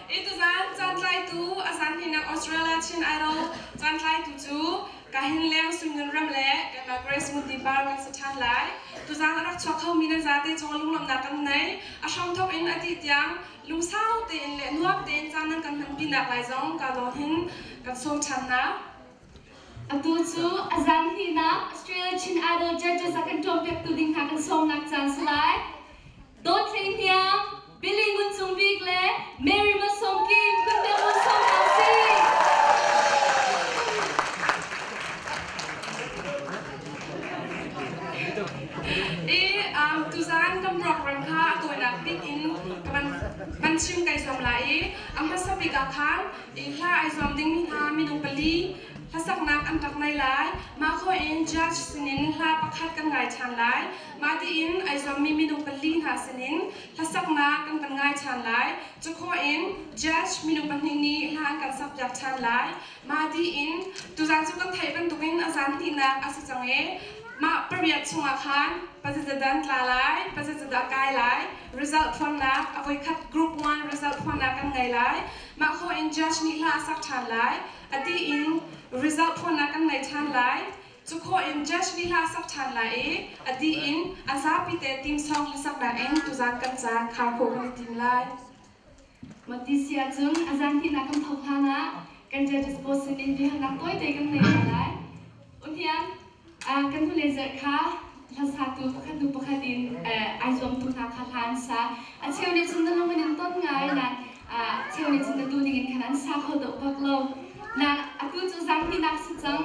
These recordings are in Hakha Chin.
Ituzan cantlaitu a zanhninak Australia Chin Idol cantlaitu cu ka hin leng Sumngan ram le kanmah Grace Ngunti Par kan si ṭhan lai. Tuzan a rak chuak khomi nan zate caw lunglawmhnak kan nei. A hramthawk in a dih tiang lungsau tein le nuam tein caan nan kan hmanpinak lai zong ka lawng hin kan sawm ṭhan hna. Atu cu a zanhninak Australia Chin Idol Judges a kan ṭawmpiaktu ding hna kan sawmnak caan si lai. Dawt Thein Hniang, Pili Ngun Cung Bik le Mary Mah Sawm Kim kan biaruang sawmnak a si. I um, tuzaan kan program kha a tawinak bik in ka van, van chim kai zuam la i a hmasa bik ah khan i hla ai zuam dingmi hna minung pali hlasaknak an rak nai lai. Mah ko in judge sinin hla pakhat kan ngai ṭhan lai. Mah tiin ai zuammi minung pali hna sinin hlasaknak kan kan ngai ṭhan lai. Cakhawh in Judge minu pahnih nih hla an kan sakpiak ṭhan lai. Mah tiin tuzaan cu kan theih bantukin a zan hnihnak a si cang i mah pariat chungah khan pazaza dan tla lai, pazaza dah kai lai, result phuannak a voikhat group one result phuannak kan ngei lai. Mah khawh in Judge nih hla a sak ṭhan lai. A tiin result phuannak kan ngei ṭhan lai. Cu khawh in Church nih hla a sak ṭhan lai i a dih in a zapite timsong hlasak in tuzan kan caan kha khawh kan i tim lai. Mawtisi ahcun a zan hnihnak kan thawk hlanah kan Judges Board sin in biahalnak tawite kan ngei hna lai. Unian, kan hnulei zelh kha hlasatu pakhat hnu pakhat in ai zuamtu hna kha hla an sa. A cheu nih cun na lung an in ton ngai nain a cheu nih cun na tu ning in khan an sa kho deuh bak lo. Na atu cu zan hnihnak si cang.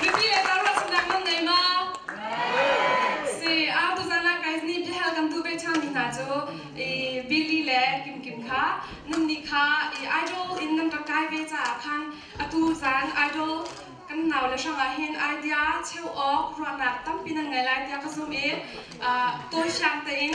Mipi le karlak sunnak nan ngei ma? Si, au tuzan la guys ni biahal kan tu ve changmi hna cu i Billy le Kim Kim kha nan nih kha i idol in nan rak kai ve caah khan atu zan idol kan nau le hrangah hin idea cheu awk ruahnak tampi nan ngei lai tiah ka zum i uh, tawi fiang tein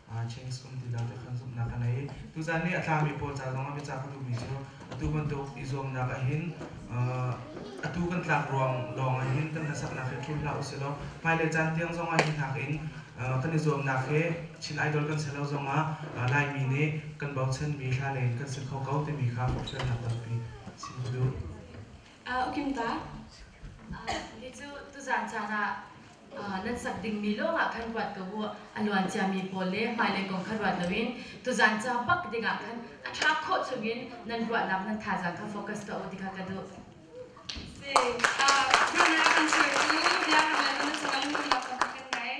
Chinks um ti dot ah khan zumhnak a nei. Tuzaan nih a tlami pawl ca zongah biacah ka duhmi cu atu bantuk i zuamnak ahhin atu kan tlak ruang lawng ahhin kan hlasaknak hi thlum hlah usihlaw hmailei caan tiang zong ahhin nakin kan i zuamnak hi Chin Idol kan si lo zongah Laimi nih kan bochanmi thlalei in kan si kho ko timi kha hrialnak tampi si cu. Ukimta, hi cu tuzaan caan ah nan sak dingmi lawngah khan ruat ko u. A luanciami pawl le hmailei kong kha ruat loin tuzan ca bak dingah khan a ṭha khawh chungin nan ruahnak nan thazaang kha focus tuah u ti kha ka duh. Biakam cu biakam le minung chungin lak kan ngei.